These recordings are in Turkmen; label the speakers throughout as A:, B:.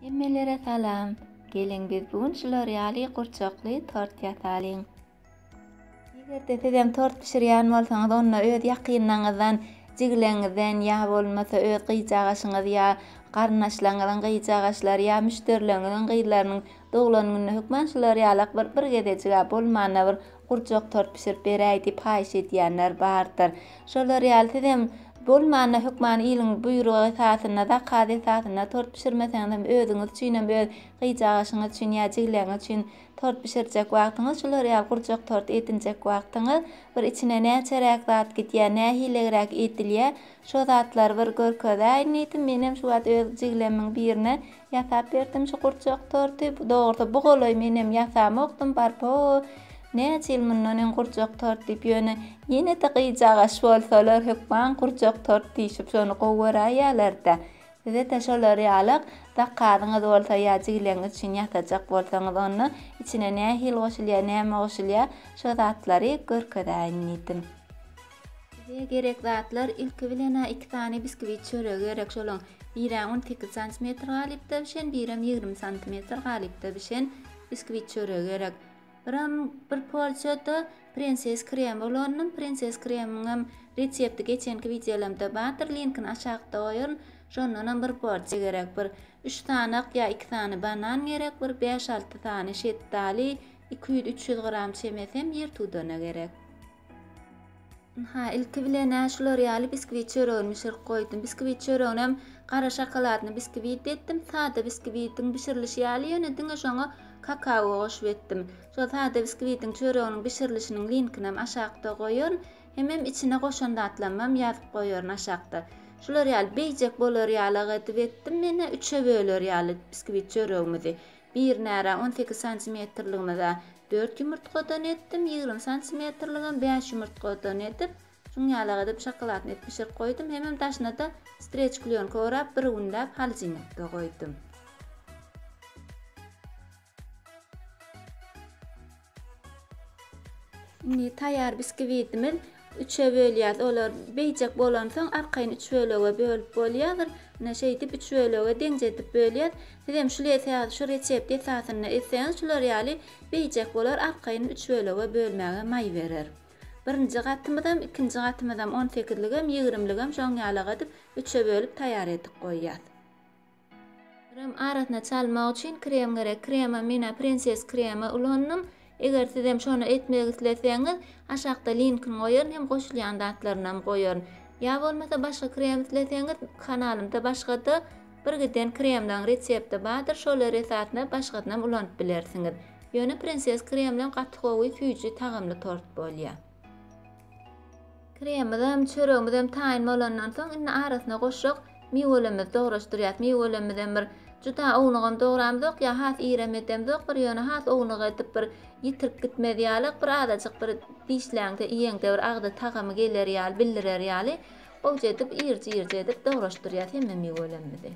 A: Hemmelere salam! Geliň biz bu gün şular ýaly gurçakly tort ýasalyň! Eger-de sizem tort bişirýän bolsaňyz onda öz ýakynlaňyzdan, jigileňizden ýa bolmasa öz gyjagaşyňyz ýa garyndaşlaňyzyň gyjagaşlary ýa müşderileriňiziň gyzlarynyň doglan gününe hökman şular ýalak bir bir gezejik-ä bolmanda bir Gurjak tort bişirip beräý diýip haýyş edýänler bardyr. Şolar ýaly sizem bolmanda hökmany iliň buýrugy esasynda, zakaz esasynda tort bişirmeseňizem özüňiz üçinem öz gyjagaşyňyz üçin ýa jigleňiz üçin tort bişirjek wagtyňyz şular ýaly gurjak tort edinjek wagtyňyz bir içine näçeräk zat gidýär nähilegräk edilýär şo zatlary bir görkezäýin diýdim menem şu wagt öz jiglemiň birine Ýasap berdim şu gurjak torty. Dogrusy bu golaý menem ýasamokdym barpo näçe ýyl mundan öň gurjak tort diýip ýöne ýene-de gyjagaş bolsalar hökman gurjak tort diýşip şony gowy göräýýärlerde size-de şolar ýaly zakazyňyz bolsa ýa jigileňiz üçin ýasajak bolsaňyz onda içine nähili goşulýar näme goşulýar şo zatlary görkezäýin diýdim. Bize gerek zatlar ilki bilen-ä iki sany biskwit çöregi gerek. Şolaň birem on sekiz santimetr galypda bişen, birem ýigrimi santimetr galypda bişen biskwit çöregi gerek. Birem bir porsiýa-da prenses kremi bolanyny, prenses kreminiňem resepti geçenki wideolarymda bardyr, linkini aşakda goýaryn. Şondanam bir porsiýa gerek. Bir üç sanak ýa iki sany banan gerek, bir bäş-alty sany şetdaly, iki ýüz-üç ýüz gram çemesi hem ýertudana gerek. Ynha, ilki bilen-ä şular ýaly biskwit çöregini bişirip goýdum. Biskwit çöreginem gara şokoladny biskwit etdim. Sada biskwitiň bişirilişi ýaly, ýöne diňe şoňa kakao goşup etdim. Şol sada biskwitiň çöreginiň bişirilişiniň linkinem aşakda goýaryn. Hemem içine goşan zatlarymam ýazyp goýaryn aşakda. Şular ýaly beýjek bolar ýalak edip etdim men-ä, üçe böler ýaly biskwit çöregimizi. Bir närä on sekiz santimetrligine-de dört ýumurtgadan etdim, ýigrimi santimetrligem bäş ýumurtgadan edip, şuň ýalak edip şokoladny edip bişirip goýdum, hemem daşyna-da streç klýonka orap bir günläp halidžinlikde goýdum. Indi taýýar biskiwitimiz üçe bölýäs. Olar beýjek bolansoň arkaýyn üç bölege bölüp bolýadyr. Ine şeýdip üç bölege deňjedip bölýäs. Siz hem şul esas şu resept esasynda etseňiz şular ýaly beýjek bolar arkaýyn üç bölege bölmäge maý berer. Birinji gatymyzam ikinji gatymyzam on sekizligem ýigrimligem şoň ýalaga edip üçe bölüp taýýar edip goýýas. Krem arasyna çalmak üçin krem gerek. Krema mena Princess kremi ulandym. Eger sizem şony etmek isleseňiz, aşakda linkini goýaryn hem goşulýan zatlarynam goýaryn. Ýa bolmasa başga krem isleseňiz, kanalymda başgada bir giden kremleriň resepti bardyr, şolar esasynda başgasynam ulanyp bilersiňiz. Ýöne Princess kremlem gaty gowy, süýji, tagamly tort bolýar. Kremimizem, çöregimizem taýyn bolandan soň, indi arasyna goşjak miwelerimizi dograşdyrýas. Miwelermizem bir juda ownugam dogramzok, ýa has irem edemzok bir, ýöne has ownuk edip bir ýitirip gitmez ýalyk, bir azajyk bir dişläňde, iýeňde bir agzy tagamy geler ýaly, bildirer ýaly owjy edip, irji-irji edip dograşdyrýas hemme miwelerimizi.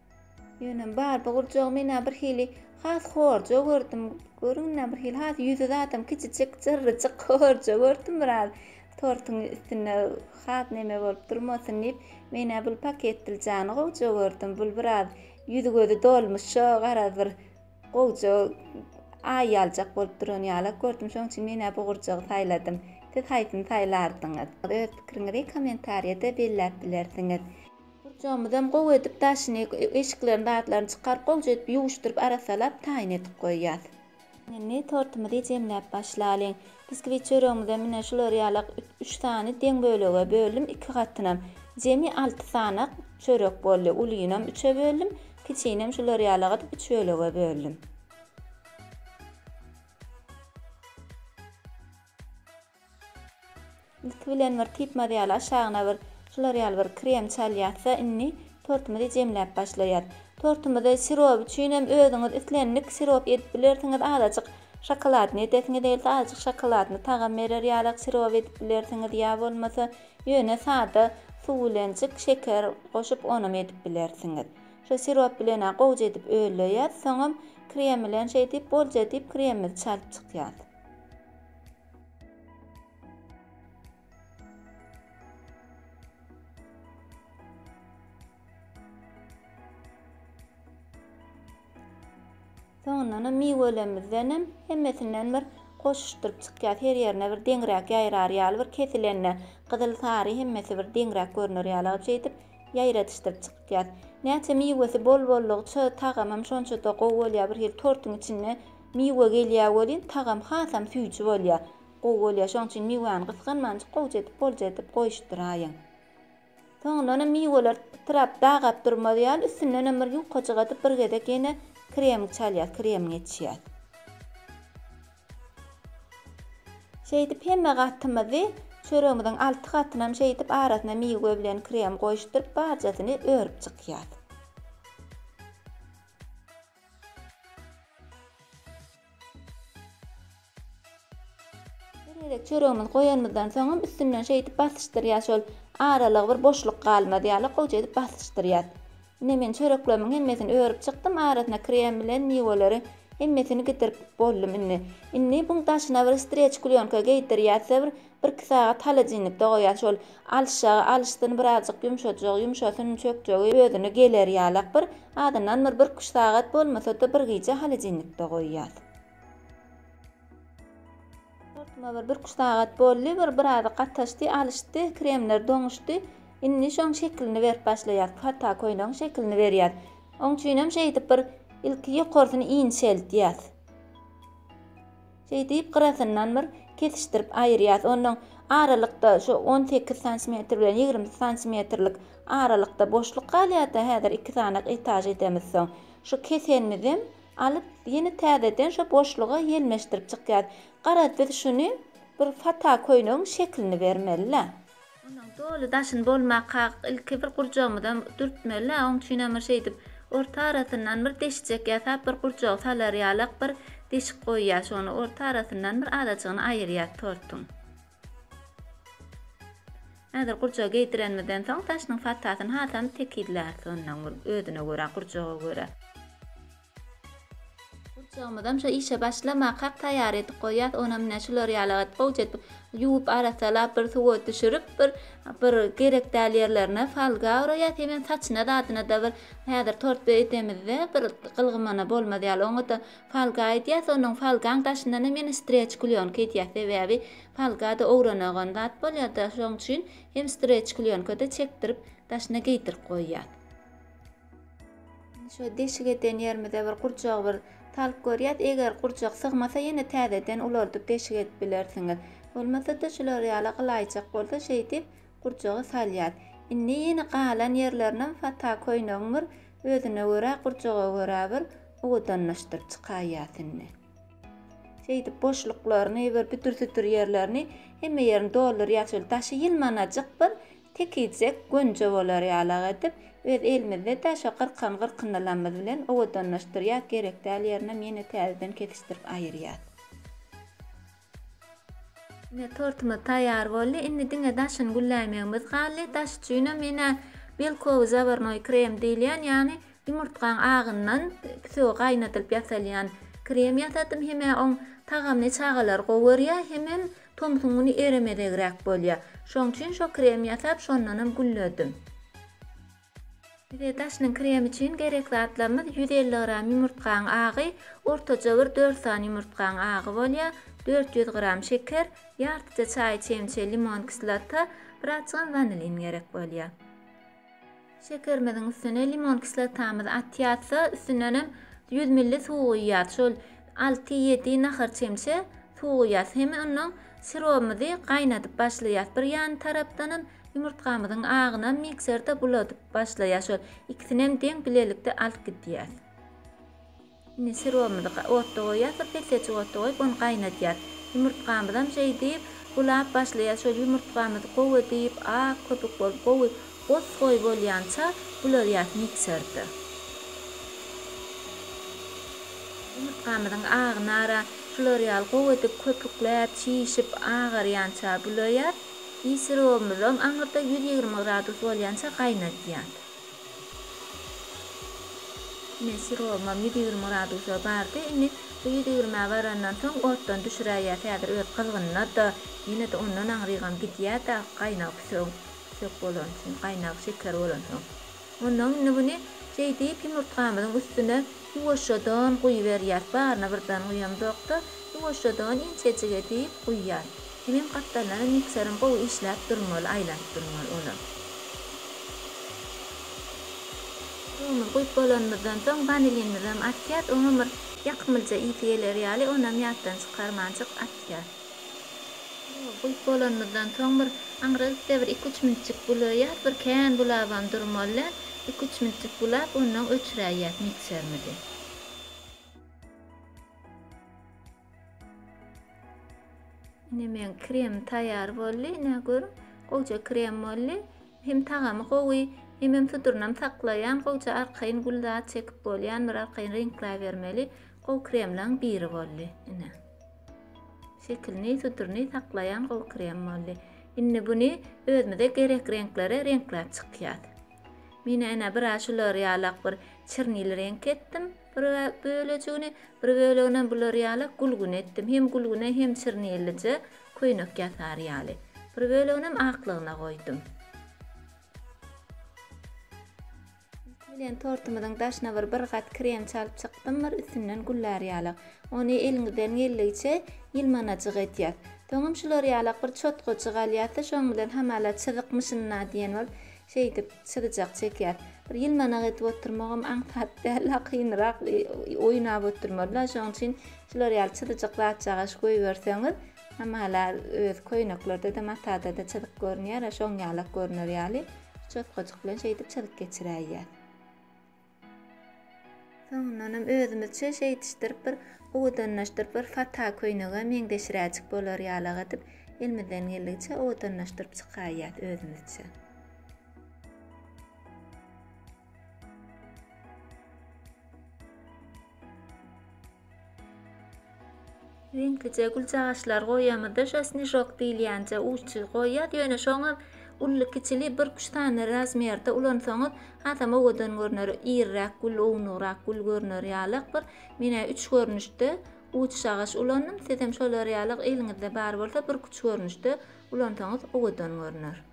A: Ýöne bar bu gurjagy men-ä birhili has horja gördüm. Görün-ä birhili has ýüzi zatam kiçijik, jyrryjyk, horja gördüm biraz. Tortuň üstünde has neme bolup durmasyn diýip, men-ä bul paketdiljany gowja gördüm. Bul biraz ýüzi-gözi dolmuşa garaz bir gowja aý aljak bolup duran ýalak gördüm. Şonuň üçin men-ä bu gurjagy saýladym. Siz haýsyny saýlardyňyz? Öz pikiriňizi kommentariýada belläp bilersiňiz. Gurjagymyzam gowy edip daşyny, eşiklerini, zatlaryny çykaryp, gowja edip ýuwuşdyryp, arassalap, taýyn edip goýýas. Indi tortumyzy jemläp başlalyň. Biskwit çöregimizem ine şular ýalak üç sany deň bölege böldüm, iki gatynam. Jemi alty sanak çörek boldy. Ulynam üçe böldüm, kiçinem şular ýalak edip üç bölege böldüm. Ilki bilen bir typmaz ýaly aşagyna bir şular ýaly bir krem çalýasda indi tortumyzy jemläp başlaýas. Tortumyzy sirop üçinem özüňiz islendik sirop edip bilersiňiz azajyk şokoladny edesiňiz gelse azajyk şokoladny tagam berer ýalak sirop edip bilersiňiz ýa bolmasa ýöne sada suw bilenjik şeker goşup onam edip bilersiňiz. Şo sirop bilenä gowja edip öleýas soňam krem bilen şeýdip bolja diýip kremimizi çalyp çykýas. Soňundan hem miwelerimizden hem hemmesinden bir goşuşdyryp çykýas. Her ýerine bir deňräk ýaýrar ýaly bir kesilende gyzyl, sary hemmesi bir deňräk görner ýaly alyp şeýdip ýaýradyşdyryp çykýas. Näçe miwesi bol boldugyça tagamam şonça-da gowy bolýar. Bir hili tortuň içinde Miwe gelýä welin tagam hasam süýji bolýa. Gowy bolýa şoň üçin miwäni gysganmanjyk gowja edip bolja edip goýuşdyraýyň. Soňundanam miweler pytrap dagap durmaz ýaly üstündenem bir ýukajyk atyp bir gezek ýene kremik çalýas krem geçýäs. Şeýdip hemme gatymyzy çöregimiziň alty gatynam şeýdip arasyna miwe bilen krem goýuşdyryp barjasyny örüp çykýas. Her gezek çöregimizi goýanymyzdan soňam üstünden şeýdip basyşdyrýas şol aralygy bir boşluk galmaz ýaly gowja edip basyşdyrýas. Ine men çöreklerimiň hemmesini örüp çykdym arasyna krem bilen miweleri hemmesini gidirip boldum indi. Indi buň daşyna bir streç klýonka geýdirýäs we bir Birki sagat holodilnikde goýan şol alyşjagy alyşsyn, birazjyk ýumşajak, ýumşasyn, çökjegi özüne geler ýalak bir, azyndan bir birküç sagat, bolmasa-da bir gije holodilnikde goýýas. Tortuma bir birküç sagat boldy, bir biraz gataşdy, alyşdy, kremler doňuşdy. Indi şoň şekilini berip başlaýas. Pata köýnegiň şekilini berýäs. Oň üçinem şeýdip bir ilki ýokarsyny inçeltýäs. Şeý diýip, gyrasyndan bir kesişdirip aýyrýas. Ondan aralykda şu on sekiz santimetr bilen ýigrimi santimetrlik aralykda boşluk galýar-da, häzir iki sany etaž edemiz soň. Şu kesenimizem alyp, ýene täzeden şu boşluga ýelmeşdirip çykýas. Garaz, biz şuny bir fata köýnegiň şeklini bermeli-le. Onuň doly daşyny bolmakak, ilki bir gurjagymyza dürtmeli-ä, oň üçin hem bir şeýdip, orta arasyndan bir deşikjek ýasap, bir gurjagy salar ýalak bir deşik goýýas, şony orta arasyndan bir azajygyny aýyrýas tortuň. Häzir gurjagy geýdirenimizden soň, daşynyň patasyny hasam tekizläris onnoň bir özüne görä, gurjaga görä. Gurçagymyzam şo işe başlamakak taýýar edip goýýas, onam ine şular ýaly et, gowja edip ýuwup, arassalap, bir suwa düşürip, bir bir gerek däl ýerlerine folga oraýas, hemem saçyna zadyna-da bir häzir tort edemizde bir gylgymana bolmaz ýaly oňa-da folga edýäs, onuň folgaň daşyndan hem ýene streç klýonka edýäs, sebäbi folga-da owranagan zat bolýar-da, şoň üçin hem streç klýonka-da çekdirip, daşyna geýdirip goýýas. Şu deşik eden ýerimize bir gurjak bir talk görýäs. Eger gurjak sygmasa ýene täzeden ulaldyp deşik edip bilersiňiz. Bolmasa-da şular ýaly gylaýjak bolsa şeýdip gurjagy salýas. Indi ýene galan ýerlerinem fata köýnegiň bir özüne görä gurjaga görä bir owadanlaşdyryp çykaýýas indi. Şeýdip boşluklaryny bir büdür-südür ýerlerini hemme ýerini doldurýas. Şol daşy ýylmanajyk bir Tekijek gönje bolar ýalak edip, öz elimizde-dä şo gyrkan gyrkyndylamyz bilen owadanlaşdyrýas, gerek däl ýerinem ýene täzeden kesişdirip aýyrýas. Ine, tortumyz taýýar boldy. Indi diňe daşyny gülläýmegimiz galdy. Daş üçinem men-ä belkowy zawarnoý krem diýilýän, ýagny ýumurtgaň agyndan püsügi gaýnadylyp ýasalýan krem ýasadym. Hem-ä oň tagamyny çagalar gowy görýär, hemem Tomsuň güni eremezegräk bolýar. Şoň üçin şo krem ýasap, şondanam gülledim. Bize daşynyň kremi üçin gerek zatlarymyz ýüz elli gram ýumurtgaň agy, ortaça bir dört sany ýumurtgaň agy bolýar, dört ýüz gram şeker, ýartyja çaý çemçe limon kislota, bir açgan wanilin gerek bolýar. Şekerimiziň üstüne limon kislotamyzy atýarys-da, üstündenem 100 ml suw guýýarys. Şol alty-ýedi nahar çemçe suw guýýarys. Hem ondan sirobymyzy gaýnadyp başlaýarys. Bir ýan tarapdanam ýumurtgamyzyň agyna mikserde buladyp başlaýarys. Şol ikisinem deň bilelikde alyp gidýäris. Indi sirowymyzy otda goýýas we petlejik otda goýup ony gaýnadýas. Ýumurtgamyzam şeýdip bulap başlaýas. Şol ýumurtgamyzy gowy edip ak köpük bolup gowy goz goý bolýança buladýas mikserde. Ýumurtgamyzyň agnara şular ýaly gowy edip köpükläp çişip agarýança bulaýas. I sirowymyzam aňyrda ýüz ýigrimi gradus bolýança gaýnadýas. Ine, syrowymam ýüz ýigrimi gradusa bardy. Indi bu ýüz ýigrimä barandan soň otdan düşüräýýäs. Häzir öz gyzgynynad-a, ýene-de ondan aňrygam gidýär-de, gaýnagy püsegiň püsek bolany üçin, gaýnagy şeker bolansoň. Onsoň indi muny şeýdip ýumurtgamyzyň üstüne. Ýuwaşjadan guýuberýär. Baryna birden guýamzok-da, ýuwaşjadan inçejik edip guýýar. Hemem gapdallana mikserim gowy işläp durmaly, aýlanyp durmaly olam. Duzumyzy guýup bolanymyzdan soň, wanilinimizem atýas. Oňam bir ýakymlyja ysy geler ýaly, onam ýatdan çykarmanjyk atýas. Ýok, guýup bolanymyzdan soň bir aňrygip-da bir iki-üç minitjik bulaýýas, bir kän bulabam durmaly, iki-üç minitjik bulap, onnoň öçüräýýäs mikserimizi. Ine meň kremim taýýar boldy, ine gör, gowja krem boldy. Hem tagamy gowy, hemem sudurynam saklaýan, gowja arkaýyn gül zat çekip bolýan bir arkaýyn reňkläbermeli gowy kremleriň biri boldy, ine. Şekilini, sütürini saklaýan gowy krem boldy. Indi buny özümize gerek reňklere reňkläp çykýas. Men ene bir aý şular ýalak bir çirnili reňk etdim. Bir bölejigini, bir bölegini bular ýalak gülgün etdim. Hem gülgüne hem çirnilije köýnek ýasar ýaly. Bir böleginem aklygyna goýdum. Üsti bilen tortumyzyň daşyna bir bir gat krem çalyp çykdym bir üstünden güllär ýalak. Ony eliňizden geldigiçe ýylmanajyk edýäs. Soňam şular ýalak bir çotgajyk alýas-da şoň bilen hamala çyzykmyşyn-a diýen bolup şeýdip çyzyjak çekýäs. Bir ýylmanak edip oturmagam aňsat däl-a kynrak oýnap oturmaly-a şoň üçin şular ýaly çyzyjyk zatjagaş goýberseňiz Hamala öz köýneklerde-de, matada-da çyzyk görünýär-ä, şoň ýalak görüner ýaly, çotgajyk bilen şeýdip çyzyk geçiräýýär. Soňundanam özümizçe şeýdişdirip bir owadanlaşdyryp, bir fata köýnege meňzeşiräjik bolar ýalak edip, elimizden geldigiçe owadanlaşdyryp çykaýýas özümizçe. Reňklije güljagaçlar goýýamyzda şo snižok diýilýänje uçsuz goýýas ýöne şoňam ully kiçili bir üç sany razmerde ulansaňyz hasam owadan görner iriräk gül ownugrak gül görner ýalak bir menä üç görnüşde uçsagaç ulandym sizem şolar ýalak eliňizde bar bolsa birküç görnüşde ulansaňyz owadan görner.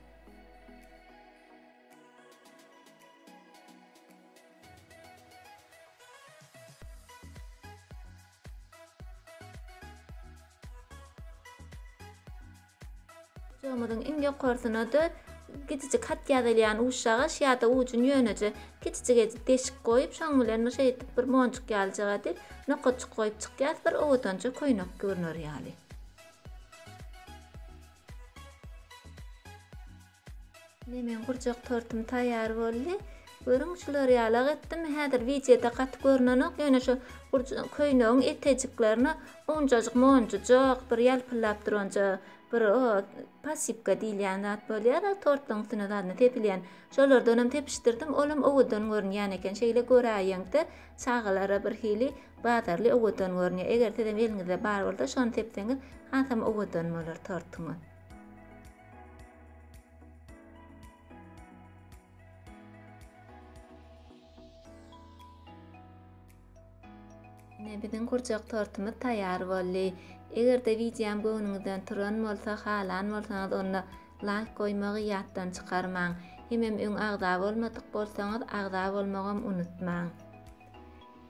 A: Ujagymyzyň iň ýokarsyna-da kiçijik hat ýazylýan uşagaş ýa-da ujuny ýöneje kiçijik edip deşik goýup, şoň bilen bir şeýdip bir monjuk ýalyjyk edip nokatjyk goýup çykýas, bir owadanja köýnek görner ýaly. Ine meň gurjak tortum taýýar boldy. Görüň şular ýalak etdim. Häzir wideoda gaty görnenok, ýöne şu köýnegiň etejiklerine unjajyk monjujak bir ýalpyllap duranja bir o pasipka diýilýän zat bolýar-a tortlaryň üstüne zadna sepilýän. Şolardanam sepişdirdim, olam owadan görünýän eken. Şeýle göräýeňde çagalara bir hili bazarly owadan görünýär. Eger sizem eliňizde bar bolsa şony sepseňiz hasam owadan bolar tortuňyz. Ine biziň gurjak tortumyz taýýar boldy. Eger-de wideom göwnüňizden turan bolsa, halan bolsaňyz onda laýk goýmagy ýatdan çykarmaň. Hemem öň agza bolmadyk bolsaňyz agza bolmagam unutmaň.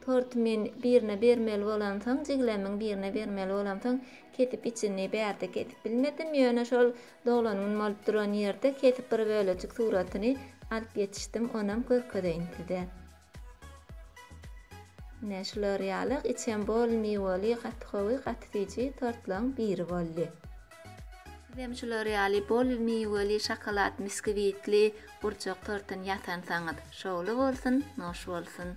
A: Torty men birine bermeli bolamsoň, jigilämiň birine bermeli bolamsoň, kesip içini bärde kesip bilmedim, ýöne şol doglan gün bolup duran ýerde kesip bir bölejik suratyny alyp ýetişdim, onam görkezeýin size. Ine, şular ýaly içem bol miweli, gaty gowy, gaty süýji tortlaryň biri boldy. Sizem şular ýaly bol miweli, şokolad, miskwitli gurjak tortuny ýasansaňyz, şowly bolsun, noş bolsun!